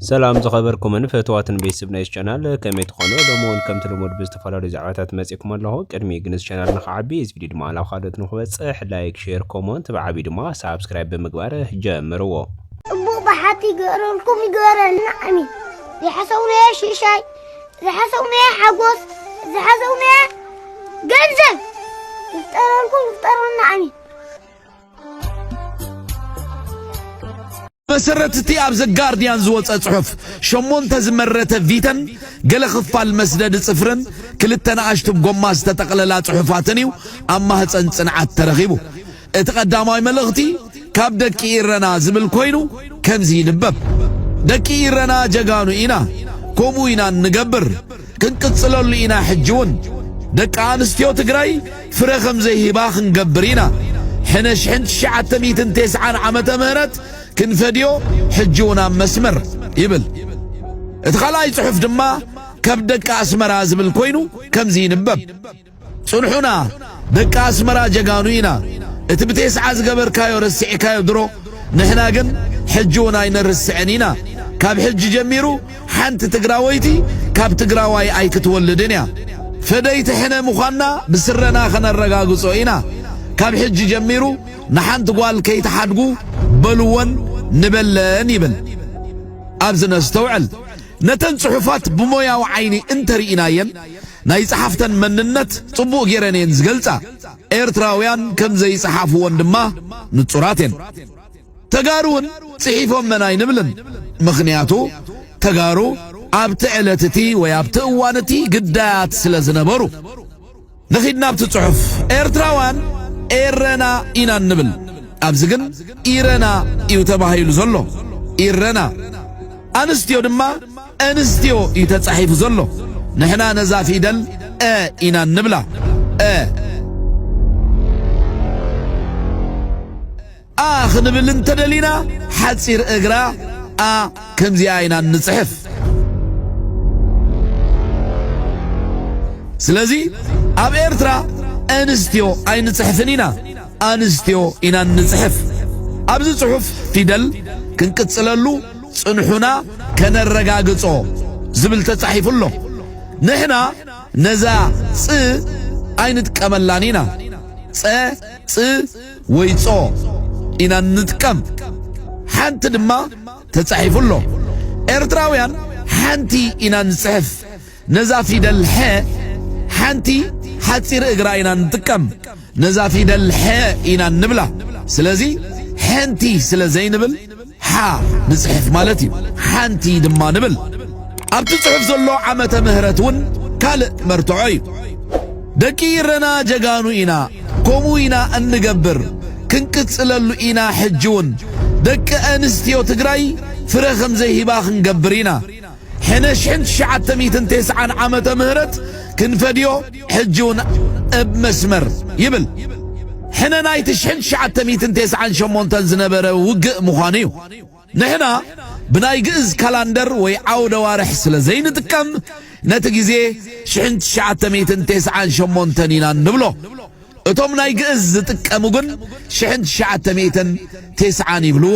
ሰላም ዝኸበርኩምን ፈተዋትን ቤተሰብ ናይዚ ቻናል ከመይ ትኾኑ? ሎሚ እውን ከምቲ ልሙድ ብዝተፈላለዩ ዛዕባታት መፂእኩም ኣለኹ። ቅድሚ ግን እዚ ቻናል ንክዓቢ እዚ ቪድዮ ድማ ናብ ካልኦት ንክበፅሕ ላይክ፣ ሼር፣ ኮሞንት ብዓብዩ ድማ ሳብስክራይብ ብምግባር ጀምርዎ። እቡእ ብሓቲ ይግበረልኩም ይግበረልና ኣሜን። ዝሓሰውናዮ ሽሻይ፣ ዝሓሰውናዮ ሓጎስ፣ ዝሓሰውናዮ ገንዘብ ይፍጠረልኩም ይፍጠረልና ኣሜን። ብመሰረት እቲ ኣብ ዘጋርድያን ዝወጸ ጽሑፍ፣ ሸሞንተ ዝመረተ ቪተን ገለ ክፋል መስደዲ ጽፍርን ክልተ ንኣሽቱ ብ ጎማ ዝተጠቕለላ ጽሑፋትን እዩ ኣብ ማህጸን ጽንዓት ተረኺቡ። እቲ ቀዳማይ መልእኽቲ ካብ ደቂ ኢረና ዝብል ኮይኑ ከምዚ ይንበብ፣ ደቂ ኢረና ጀጋኑ ኢና፣ ከምኡ ኢና እንገብር። ክንቅጽለሉ ኢና ሕጂ ውን ደቂ ኣንስትዮ ትግራይ ፍረ ከም ዘይህባ ክንገብር ኢና ሕነ ሽሕን ትሽዓተ ሚእትን ቴስዓን ዓመተ ምህረት ክንፈድዮ ሕጂ ውን ኣብ መስመር ይብል እቲ ካልኣይ ጽሑፍ ድማ ከብ ደቂ ኣስመራ ዝብል ኮይኑ ከምዚ ይንበብ። ጽንሑና ደቂ ኣስመራ ጀጋኑ ኢና እቲ ብቴስዓ ዝገበርካዮ ረሲዕካዮ ድሮ ንሕና ግን ሕጂ ውን ኣይነርስዕን ኢና ካብ ሕጂ ጀሚሩ ሓንቲ ትግራወይቲ ካብ ትግራዋይ ኣይክትወልድን እያ ፈደይቲ ሕነ ምዃንና ብስረና ከነረጋግጾ ኢና ካብ ሕጂ ጀሚሩ ንሓንቲ ጓል ከይትሓድጉ በልወን ንበለን ይብል ኣብዚ ነስተውዕል ነተን ጽሑፋት ብሞያዊ ዓይኒ እንተ ርኢናየን፣ ናይ ጸሓፍተን መንነት ጽቡቕ ገይረን እየን ዝገልጻ። ኤርትራውያን ከም ዘይጸሓፍወን ድማ ንጹራት እየን። ተጋሩውን ጽሒፎመን ኣይንብልን። ምኽንያቱ ተጋሩ ኣብቲ ዕለት እቲ ወይ ኣብቲ እዋን እቲ ግዳያት ስለ ዝነበሩ። ንኺድ ናብቲ ጽሑፍ። ኤርትራውያን ኤረና ኢና እንብል፣ ኣብዚ ግን ኢረና እዩ ተባሂሉ ዘሎ፣ ኢረና። ኣንስትዮ ድማ እንስትዮ እዩ ተጻሒፉ ዘሎ፣ ንሕና ነዛ ፊደል እ ኢና እንብላ፣ እ። a ክንብል እንተደሊና ሓጺር እግራ a ከምዚኣ ኢና እንጽሕፍ። ስለዚ ኣብ ኤርትራ ኣንስትዮ ኣይንጽሕፍን ኢና፣ ኣንስትዮ ኢና እንጽሕፍ። ኣብዚ ጽሑፍ ፊደል ክንቅጽለሉ ጽንሑና ከነረጋግጾ ዝብል ተጻሒፉ ኣሎ። ንሕና ነዛ ጽ ኣይንጥቀመላን ኢና ጸ ጽ ወይጾ ኢና እንጥቀም ሓንቲ ድማ ተጻሒፉ ኣሎ ኤርትራውያን ሓንቲ ኢና ንጽሕፍ ነዛ ፊደል ሐ ሓንቲ ሓጺር እግራ ኢና ንጥቀም ነዛ ፊደል ሐ ኢና ንብላ ስለዚ ሐንቲ ስለ ዘይንብል ሓ ንጽሕፍ ማለት እዩ ሓንቲ ድማ ንብል ኣብቲ ጽሑፍ ዘሎ ዓመተ ምህረት እውን ካልእ መርትዖ እዩ ደቂ ኢረና ጀጋኑ ኢና ከምኡ ኢና እንገብር ክንቅጽለሉ ኢና ሕጂ እውን ደቂ ኣንስትዮ ትግራይ ፍረ ከምዘይህባ ክንገብር ኢና ሕነ ሽሕን ትሽዓተ ሚእትን ቴስዓን ዓመተ ምህረት ክንፈድዮ ሕጂ ውን እብ መስመር ይብል ሕነ ናይቲ ሽሕን ትሽዓተ ሚእትን ቴስዓን ሸሞንተን ዝነበረ ውግእ ምዃኑ እዩ። ንሕና ብናይ ግእዝ ካላንደር ወይ ዓውደዋርሕ ስለ ዘይንጥቀም ነቲ ግዜ ሽሕን ትሽዓተ ሚእትን ቴስዓን ሸሞንተን ኢና ንብሎ። እቶም ናይ ግእዝ ዝጥቀሙ ግን ሽሕን ትሽዓተ ሚእትን ቴስዓን ይብልዎ።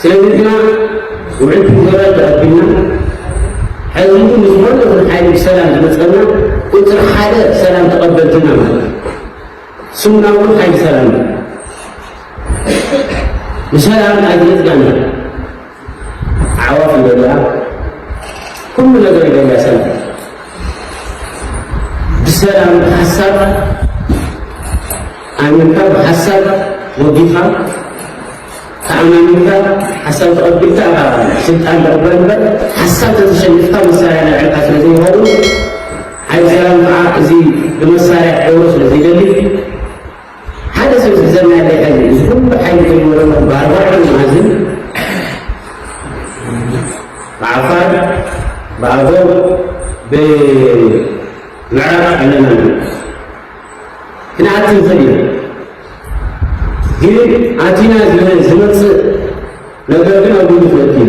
ስለዚ ንሕና ውዕል ፕሪቶርያ ተቐቢልና ሕዚ እውን ንዝኾነ ይኹን ሓይሊ ብሰላም ዝመፀና ቁፅሪ ሓደ ሰላም ተቐበልቲ ኢና ማለት እዩ። ስሙና እውን ሓይሊ ሰላም እዩ። ንሰላም ኣይትነፅጋና ኣዕዋፍ ይደልያ ኩሉ ነገር ይደልያ ሰላም ብሰላም ብሓሳብ ኣሚንካ ብሓሳብ ወጊኻ ተኣማሚንካ ሓሳብ ተቐቢልካ ኢኻ ስልጣን ተቕበል እምበር ሓሳብ ተዘሸኒፍካ መሳርያ ናይ ዕልካ ስለ ዘይኸውን ሓይሊ ሰላም ከዓ እዚ ብመሳርያ ክገብሮ ስለ ዘይደሊ ሓደ ሰብ ዝዘናግዕ ህዝቢ እዚ ኩሉ ሓይሊ ዝነበሮ ብኣርባዕተ መኣዝን ብዓፋር ብኣገው ብምዕራብ ኣለና ክንኣቲ ንኽእል ኢና ግን ኣቲና ዝመፅእ ነገር ግን ኣብ ግምት ነእትዩ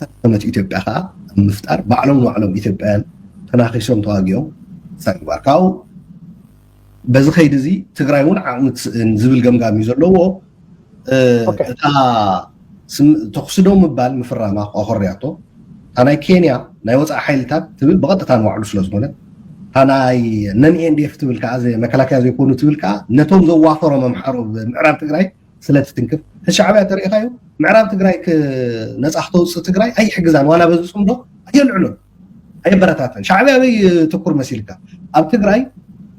ዝተዳኸመት ኢትዮጵያ ከኣ ኣብ ምፍጣር ባዕሎም ንባዕሎም ኢትዮጵያውያን ተናኺሶም ተዋጊኦም ክሳብ ምግባር ካብኡ በዚ ከይዲ እዚ ትግራይ እውን ዓቕሚ ትስእን ዝብል ገምጋም እዩ ዘለዎ እታ ተኽሲ ዶ ምባል ምፍራማ ኣኾርያቶ እታ ናይ ኬንያ ናይ ወፃኢ ሓይልታት ትብል ብቐጥታ ንባዕሉ ስለ ዝኾነ እታ ናይ ነን ኤንዲኤፍ ትብል ከዓ መከላከያ ዘይኮኑ ትብል ከዓ ነቶም ዘዋፈሮም ኣምሓሩ ምዕራብ ትግራይ ስለ ትትንክፍ ንሻዕብያ እንተሪኢኻዮ ምዕራብ ትግራይ ነፃ ክተውፅእ ትግራይ ኣይሕግዛን ዋላ በዚ ፅምዶ ኣየልዕሎን ኣየበረታተን ሻዕብያ ኣበይ ትኩር መሲልካ ኣብ ትግራይ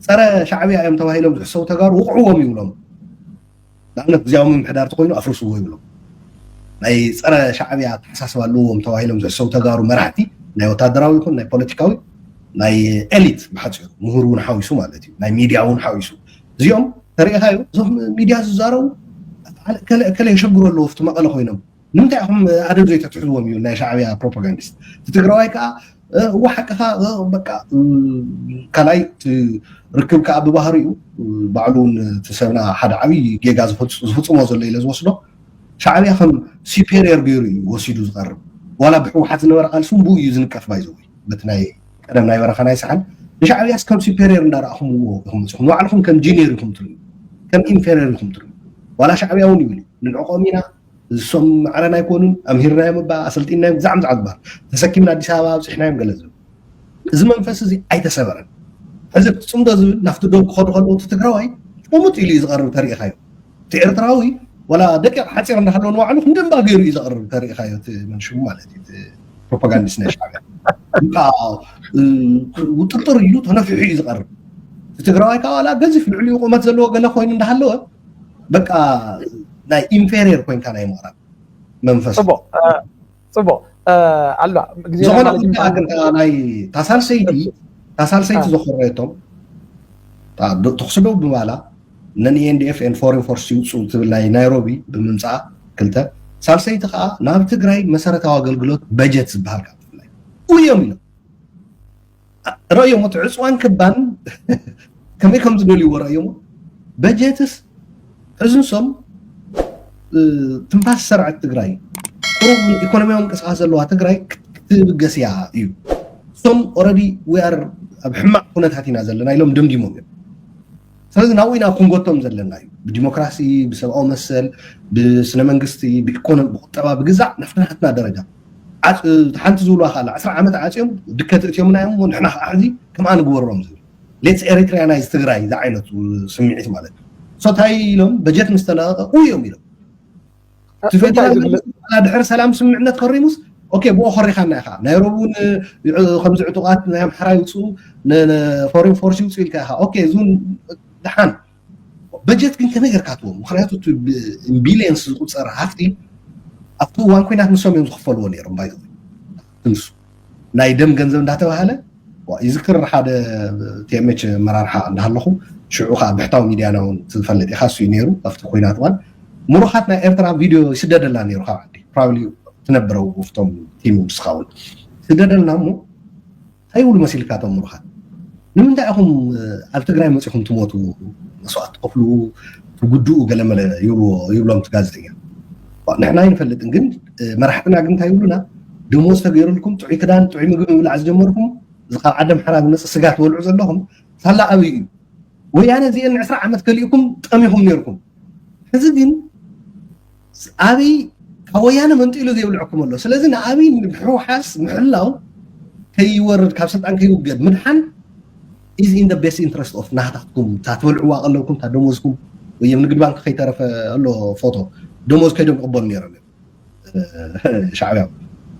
ፀረ ሻዕብያ እዮም ተባሂሎም ዝሕሰቡ ተጋሩ ውቕዕዎም ይብሎም ንኣብነት ግዜያዊ ምምሕዳር ተኮይኑ ኣፍርስዎ ይብሎም ናይ ፀረ ሻዕብያ ኣተሓሳስባ ኣለዎም ተባሂሎም ዝሕሰቡ ተጋሩ መራሕቲ ናይ ወታደራዊ ይኹን ናይ ፖለቲካዊ ናይ ኤሊት ብሓፂሩ ምሁር እውን ሓዊሱ ማለት እዩ ናይ ሚድያ እውን ሓዊሱ እዚኦም ተሪኢኻዮ እዞም ሚድያ ዝዛረቡ ከለ የሸግሩ ኣለዎ ፍቲ መቐለ ኮይኖም ንምንታይ ኢኹም ኣደብ ዘይተትሕዝዎም እዩ ናይ ሻዕብያ ፕሮፓጋንዲስት እቲ ትግራዋይ ከዓ እዎ ሓቅኻ በቃ ካልኣይ ርክብ ከዓ ብባህሪኡ ባዕሉ እውን እቲ ሰብና ሓደ ዓብይ ጌጋ ዝፍፅሞ ዘሎ ኢለ ዝወስዶ ሻዕብያ ከም ሲፔሪየር ገይሩ እዩ ወሲዱ ዝቐርብ ዋላ ብሕወሓት ዝነበረ ቃልሲ እውን ብኡ እዩ ዝንቀፍ ባይዘወይ በቲ ናይ ቀደም ናይ በረኻ ናይ ሰሓል ንሻዕብያስ ከም ሱፔሪየር እንዳረኣኹምዎ ኢኹም መፅኹም ንባዕልኹም ከም ጂኒየር ኢኹም ትርዩ ከም ኢንፌሪየር ኢኹም ትርዩ ዋላ ሻዕብያ እውን ይብል ንዕቆም ኢና እሶም ማዕረን ኣይኮኑን ኣምሂርናዮም እባ ኣሰልጢናዮም ብዛዕም ዝዓ ዝበሃል ተሰኪምና ኣዲስ ኣበባ ኣብፅሕናዮም ገለ ዝብል እዚ መንፈስ እዚ ኣይተሰበረን ሕዚ ፅምዶ ዝብል ናብቲ ዶ ክኸዱ ከለዉ እቲ ትግራዋይ ቁሙጥ ኢሉ እዩ ዝቐርብ ተሪኢኻዮ እቲ ኤርትራዊ ዋላ ደቂቕ ሓፂር እንዳሃለዎ ንባዕሉ ክንደንባ ገይሩ እዩ ዘቕርብ ተሪኢኻዮ እቲ መንሽሙ ማለት እዩ ፕሮፓጋንዲስት ናይ ሻዕብያ እዩ ከዓ ውጥርጥር ኢሉ ተነፊሑ እዩ ዝቐርብ እቲ ትግራዋይ ከዓ ዋላ ገዚፍ ልዕሊኡ ቁመት ዘለዎ ገለ ኮይኑ እንዳሃለወ በቃ ናይ ኢንፌሪየር ኮንካ ናይ ምቕራብ መንፈስ ፅቡቅ እ፣ ፅቡቅ እ፣ ኣሎ ግዜ ዝኾነ ማለት እዩ። ጉዳይ ግን እታ ናይ ታሳልሰይቲ ታሳልሰይቲ ዘኮረየቶም ተኽሲ ደው ብምባላ ነን ENDF and Foreign Force ይውጽኡ ትብል ናይ ናይሮቢ ብምምጻኣ ክልተ ሳልሰይቲ ከዓ ናብ ትግራይ መሰረታዊ ኣገልግሎት በጀት ዝበሃል ካብ ትግራይ እዮም ኢሎም ረእዮሞ እቲ ዕፅዋን ክባን ከመይ ከም ዝደልይዎ ረእዮሞ በጀትስ ሕዚ ንሶም ትንፋስ ሰርዐት ትግራይ ቁሩብ ኢኮኖሚያዊ ምንቅስቃስ ዘለዋ ትግራይ ክትብገስ እያ እዩ እሶም ኦረዲ ዊኣር ኣብ ሕማቅ ኩነታት ኢና ዘለና ኢሎም ደምዲሞም እዮም ስለዚ ናብኡ ኢና ክንጎቶም ዘለና እዩ ብዲሞክራሲ ብሰብኣዊ መሰል ብስነ መንግስቲ ብኢኮኖሚ ብቁጠባ ብግዛዕ ናፍቲ ናትና ደረጃ ሓንቲ ዝብልዋ ካላ ዕስራ ዓመት ዓፅዮም ድከት እትዮምና እዮም እሞ ንሕና ከዓ ሕዚ ከምኣ ንግበሮም ዝብል ሌትስ ኤሪትሪያናይዝ ትግራይ ዝዓይነቱ ስምዒት ማለት እዩ ሶታይ ኢሎም በጀት ምስ ተለቐቀ ኡይ እዮም ኢሎም እቲ ፌደራል መንግስቲ በዓላ ድሕሪ ሰላም ስምምዕነት ፈሪሙስ ኦኬ ብኡ ኮሪኻና ኢኻ ናይ ሮብ እውን ከምዚ ዕጡቓት ናይ ኣምሓራ ይውፅኡ ፎሬን ፎርስ ይውፅኡ ኢልካ ኢኻ ኦኬ እዚ እውን ድሓን በጀት ግን ከመይ ጌርካ ትዎም ምክንያቱ እቲ ቢልየንስ ዝቁፀር ሃፍቲ ኣብቲ እዋን ኩናት ንሶም እዮም ዝኽፈልዎ ነይሮም ባይዘ ክንሱ ናይ ደም ገንዘብ እንዳተባሃለ ይዝክር ሓደ ቲኤምኤች መራርሓ እንዳሃለኹ ሽዑ ከዓ ብሕታዊ ሚድያና እውን ትፈልጥ ኢኻ እሱ ነይሩ ኣብቲ ኩናት እዋን ምሩኻት ናይ ኤርትራ ቪድዮ ይስደደላ ነይሩ ካብ ዓዲ ፕራብሊ ትነብረው ውፍቶም ቲም ምስኻ እውን ስደደልና እሞ ታይ ይብሉ መሲልካ እቶም ሙሩኻት ንምንታይ ኢኹም ኣብ ትግራይ መፂኹም ትሞቱ መስዋእቲ ትኸፍሉ ትጉድኡ ገለመለ ይብልዎ ይብሎም እቲ ጋዜጠኛ ንሕና ኣይንፈልጥን ግን መራሕትና ግን እንታይ ይብሉና ደሞዝ ተገይሩልኩም ጥዑይ ክዳን ጥዑይ ምግቢ ምብላዕ ዝጀመርኩም እዚ ካብ ዓደም ሓራ ዝመፅእ ስጋ ትበልዑ ዘለኹም ሳላ ኣብይ እዩ ወያነ እዚአን ዕስራ ዓመት ከሊእኩም ጠሚኹም ነይርኩም ሕዚ ግን ኣብይ ካብ ወያነ መንጢሉ ዘይብልዐኩም ኣሎ ስለዚ ንኣብይ ምሕውሓስ ምሕላው ከይወርድ ካብ ስልጣን ከይውገድ ምድሓን ኢዝ ኢን ቤስት ኢንትረስት ኦፍ ናህታትኩም እታ ትበልዕዋ ቀለብኩም እታ ደሞዝኩም ወይም ንግድ ባንክ ከይተረፈ ኣሎ ፎቶ ደሞዝ ከይዶም ክቕበሉ ነይሮም ሻዕብያ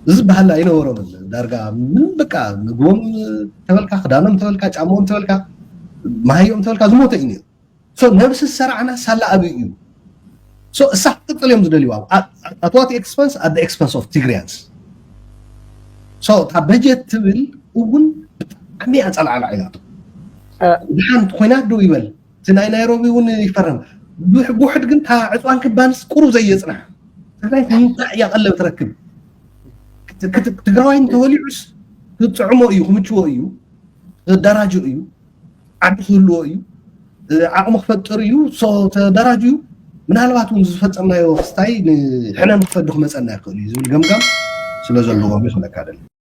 እዚ ዝበሃል ኣይነበሮምን ዳርጋ ምንም በቃ ምግቦም ተበልካ ክዳኖም ተበልካ ጫማኦም ተበልካ መሃዮም ተበልካ ዝሞተ እዩ ነይሩ ሶ ነብሲ ዝሰርዓና ሳላ ኣብይ እዩ ሶ እሳ ክትቅፅል እዮም ዝደልይዋ ኣትዋት ኤክስፐንስ ኣደ ኤክስፐንስ ኦፍ ትግሪያንስ ሶ እታ በጀት ትብል እውን ብጣዕሚ እያ ፀልዓላ ኢላቶ ድሓን ኮይናት ደው ይበል እቲ ናይ ናይሮቢ እውን ይፈረም ብውሕድ ግን እታ ዕፅዋን ክባንስ ቁሩብ ዘየፅናሕ ትግራይ እንታይ እያ ቀለብ ትረክብ ትግራዋይ እንተወሊዑስ ክጥዕሞ እዩ ክምችዎ እዩ ዘደራጆ እዩ ዓቕሚ ክህልዎ እዩ ዓቕሚ ክፈጥር እዩ ተደራጅዩ ምናልባት እውን ዝፈፀምናዮ ክስታይ ንሕነ ንክፈዱ ክመፀና ይኽእል እዩ ዝብል ገምጋም ስለ ዘለዎም እዩ ክብለካ ደሊ